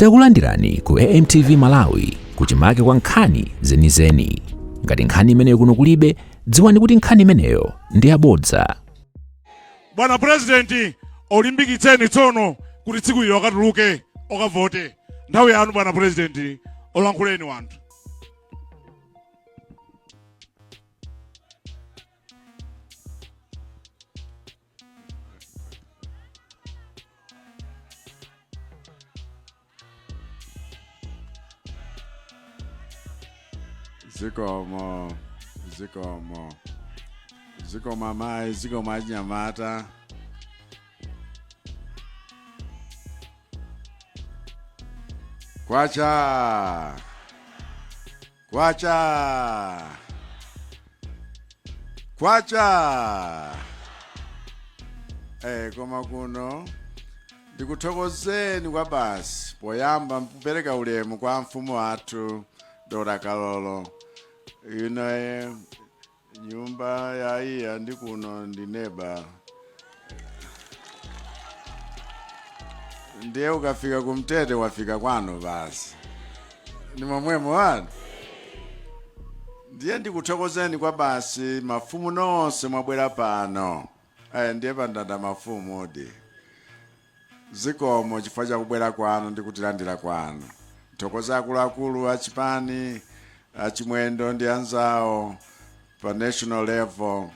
Takulandirani ku AMTV Malawi kuchimake kwa nkhani zenizeni. Ngati nkhani imeneyo kuno kulibe, dziwani kuti nkhani imeneyo ndi yabodza. bwana purezidenti olimbikitseni tsono kuti tsiku ilo akatuluke okavote nthawi yanu bwana purezidenti olankhuleni ŵanthu zikomo zikomo zikomo amayi zikomo anyamata kwacha kwacha kwacha eh koma kuno ndikuthokozeni kwa basi poyamba mkupereka ulemu kwa mfumu yathu Dora Kalolo ino eh, nyumba ya iya ndi kuno ndi neba ndiye ukafika kumtete wafika kwanu basi ndi momwemo wanu ndiye ndikuthokozeni kwa basi mafumu nonse mwabwera pano aya ndiye pandanda mafumu odi zikomo chifukwa chakubwera kwanu ndi kutilandira kwanu ndithokoze akuluakulu a chipani achimwendo ndi anzawo pa national level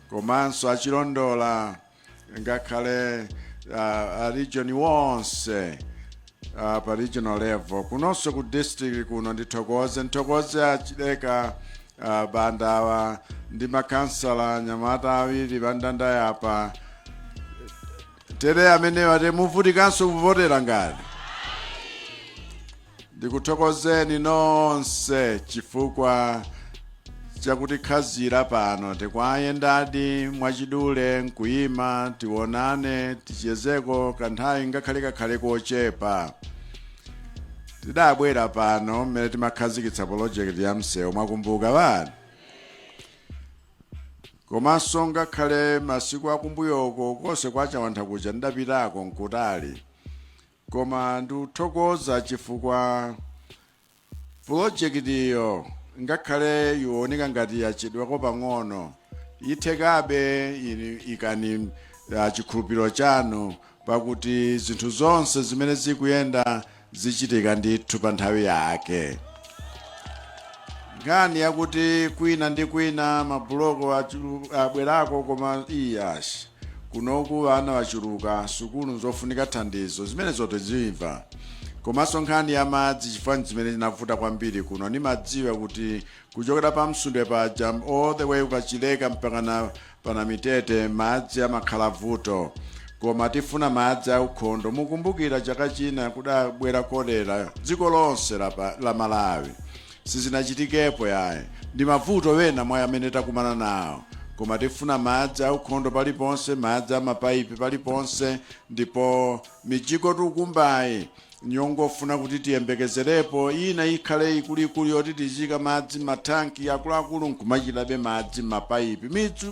komanso achilondola ngakhale uh, a region wonse uh, pa regional level kunonso ku district kuno ndithokoze ndithokoze achileka uh, bandawa ndi makansala anyamata awiri bandanda yapa tere amenewa ati muvutikanso kuvotera ngati ndikuthokozeni nonse chifukwa chakuti khazira pano tikuyendadi mwachidule nkuyima tionane tichezeko kanthawi ngakhale kakhale kochepa tidabwera pano mmene timakhazikitsa polojekiti ya msewu mwakumbuka bani komanso ngakhale masiku akumbuyoko konse kwa chawantha kuja ndidapitako nkutali koma ndikuthokoza chifukwa pulojekitiyo ngakhale iwoneka ngati yachedwako pang'ono ithekabe ini- ikani ah, chikhulupiriro chanu Pakuti zinthu zonse zimene zikuyenda zichitika ndithu pa nthawi yake. Nkhani yakuti kwina ndi kwina mabuloko achulu- abwerako koma iyash kunoku ana wachuluka sukulu nzofunika thandizo zimenezo taziimva komanso nkhani ya madzi chifukwa ndi zimene zinavuta kwambiri kuno ndimadziwa kuti kuchokera pa msundwe paja all the way ukachileka mpakana Pa Namitete madzi amakhala vuto koma tifuna madzi aukhondo mukumbukira chaka china kudabwera cholera dziko lonse la Malawi sizinachitikepo yayi ndi mavuto wena mwa amene takumana nawo koma tifuna madzi aukhondo paliponse madzi amapaipi paliponse ndipo mijigo tukumbayi N'yongofuna kuti tiyembekezerepo ina ikhale ikuluikulu yoti tiziika madzi m'mathanki akuluakulu n'kumathirabe madzi m'mapaipi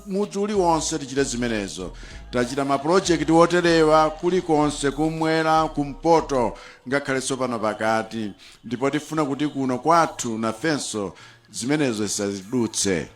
mudzi uliwonse. Tichite zimenezo. Tachita mapulojekiti oterewa kulikonse, kummwera, kumpoto, ngakhalenso pano pakati, ndipo tifuna kuti kuno kwathu nafenso zimenezo zisatidutse.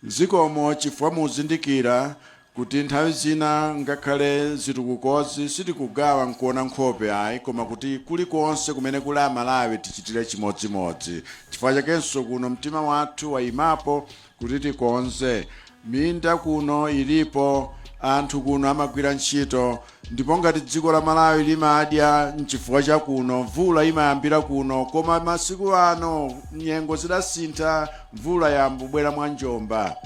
Zikomo chifukwa mukuzindikira Kuti nthawi zina ngakhale zitukukozi sitikugawa nkuona nkhope ayi koma kuti kulikonse kumene kuli Amalawi tichitire chimodzimodzi. Chifukwa chakenso kuno mtima wathu waimapo kuti tikonze. Minda kuno ilipo, anthu kuno amagwira ntchito. Ndipo ngati dziko la Malawi limadya nchifukwa cha kuno mvula imayambira kuno koma masiku ano nyengo zidasintha mvula yayamba kubwera mwa njomba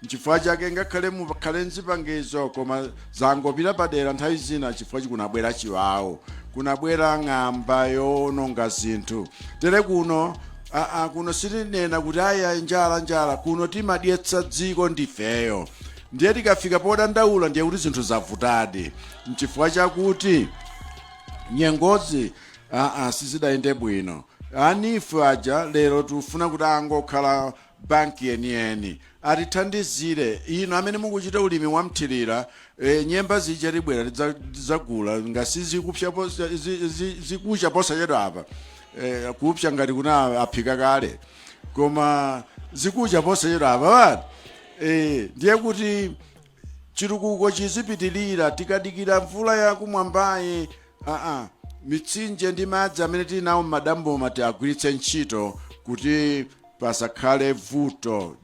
nchifukwa chake ngakhale mukhale nzipangizo koma zangopita padera nthawi zina chifukwa choti kunabwera chiwawu kunabwera ng'amba yoononga zinthu tere kuno aa kuno sitinena kuti ayi njala njala kuno timadyetsa dziko ndifeyo Ndiye tikafika podandaula ndiye kuti zinthu zavutadi, n'chifukwa chakuti nyengozi aa sizidayende bwino. A NEEF aja lero tikufuna kuti angokhala banki yeniyeni atithandizire inu amene mukuchita ulimi wa mthirira e, nyemba zija tibwera tidza- tidzagula ngati zikupsa posa- zi- zi- zikucha posachedwa apa e, kupsa ngati kuna aphika kale koma zikucha posachedwa apa ee ndiye kuti chitukuko chizipitirira tikadikira mvula yakumwambayi aa mitsinje ndi madzi amene tili nawo m'madamboma tiagwiritse ntchito kuti pasakhale vuto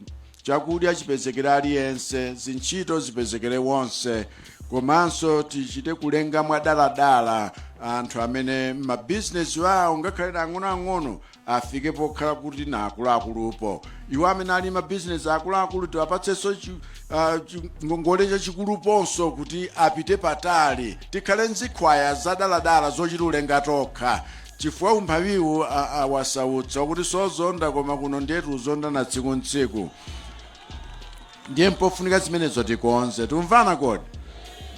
chakudya chipezekere aliyense zintchito zipezekere wonse komanso tichite kulenga mwadaladala anthu amene mabizinesi awo ngakhale ang'onoang'ono afike pokhala kuti na akuluakulupo iwo amene ali m'mabizinesi akuluakulu tiwapatsenso chi- ah, chi- ngongole chachikuluponso kuti apite patali tikhale nzikhwaya zadaladala zochita ulenga tokha chifukwa umphawiwu a- awasautsa kuti sozonda koma kuno ndiyetu uzondana tsiku ntsiku ndiye mpofunika zimenezo tikonze tiumvana kodi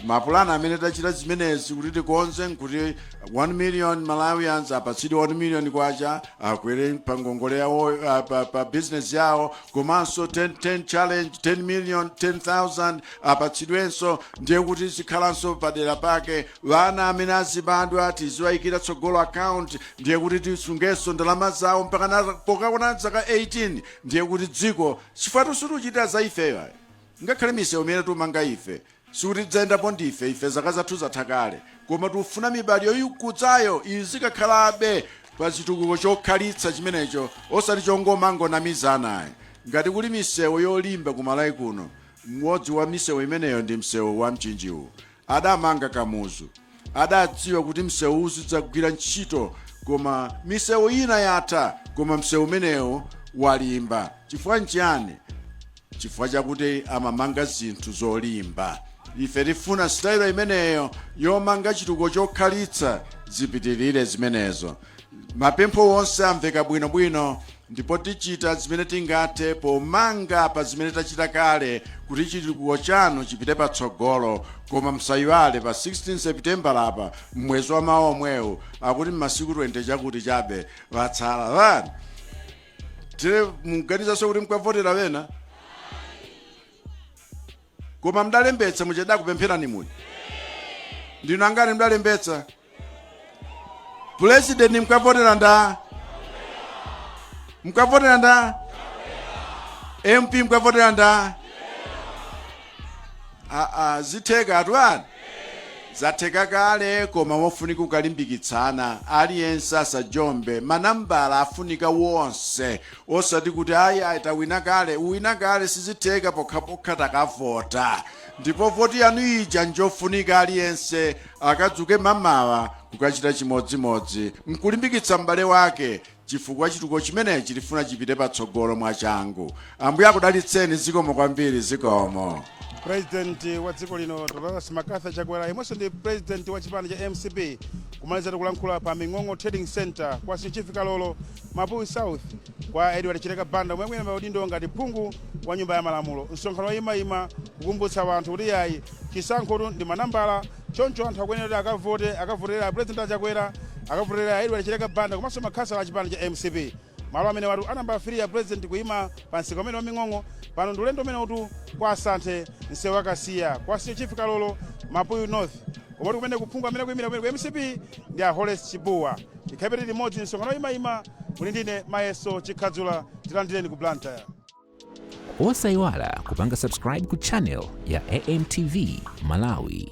mapulani amene tachita zimenezi kuti tikonze nkuti 1 million malawians apatsidwe 1 million kwacha akwere pa ngongole yawo ah, pa, pa business yawo komanso 10, 10 challenge 10 million 10000 apatsidwenso ndiye kuti zikhalanso padera pake vana amene azibadwa tiziwayikira tsogolo account ndiye kuti tisungenso ndalama zawo mpaka na- pokakwana zaka 18 ndiye kuti dziko Chifukwatu sutiuchitira za ifeyo ayi. Ngakhale misewu imene tiumanga ife, sikuti tidzayendapo ndife, ife zaka zathu zatha kale, koma tiufuna mibadwo ikudzayo izikakhalabe pa chitukuko chokhalitsa chimenecho osati chongomangonamizana ayi. Ngati kuli misewu yolimba ku Malawi kuno, umodzi wa misewu imeneyo ndi msewu wa Mchinji uwu. Adamanga Kamuzu. Adadziwa kuti msewu uzidzagwira ntchito koma misewu ina yatha koma msewu umenewu walimba. Chifukwa nchiyani? Chifukwa chakuti amamanga zinthu zolimba. Ife tifuna sitayilo imeneyo yomanga chitukuko chokhalitsa zipitirire zimenezo. Mapempho onse amveka bwino bwino ndipo tichita zimene tingathe pomanga pa zimene tachita kale kuti chitukuko chanu chipite patsogolo koma msayiwale pa 16 Seputembala apa mmwezi wa mawa omwewu akuti mmasiku 20 chakuti chabe watsala vani tire muganizanso kuti mukavotera vena koma mdalembetsa muja tidakupempherani muja ndinu angati mdalembetsa pulezidenti mkavotera nda mkavotera nda mp mkavotera nda aa zitheka atwani zatheka kale koma mpofunika ukalimbikitsana aliyense asajombe manambala afunika wonse Osati kuti ayi ayi tawina kale, uwina kale sizitheka pokhapokha takavota ndipo voti yanu ija njofunika aliyense akadzuke mamawa kukachita chimodzimodzi mkulimbikitsa m'bale wake chifukwa chitukuko chimenechi tifuna chipite patsogolo mwachangu. Ambuye akudalitseni zikomo kwambiri zikomo. President wa dziko lino Dr. Lazarus McCarthy Chakwera yemwenso ndi president wa chipani cha mcp kumalizatu kulankhula pa Ming'ong'o Trading Center kwa Senior Chief Kalolo Mapuyu South kwa Edward Chileka Banda omwe ali pa udindo ngati phungu wa nyumba ya malamulo. Msonkhano woyimayima kukumbutsa wanthu kuti yayi chisankhotu ndi manambala choncho anthu akuyenera kuti akavote akavotere a President a Chakwera akavotere a Edward Chileka Banda komanso makhansala a chipani cha mcp. Malo amenewatu a nambala 3 a President kuyima pa msika umene wa Ming'ong'o pano ndi ulendo umenewutu kwa Asanthe msewu wa Kasiya kwa Senior Chief Kalolo Mapuyu North komatu kumeneku phungu amene akuyimira kumeneku mcp ndi a Horace Chipuwa. Tikhalebe tili limodzi, msonkhano woyimayima. Muli ndine Mayeso Chikhadzula, tilandireni ku Blantyre. Osaiwala kupanga subscribe ku channel ya AMTV Malawi.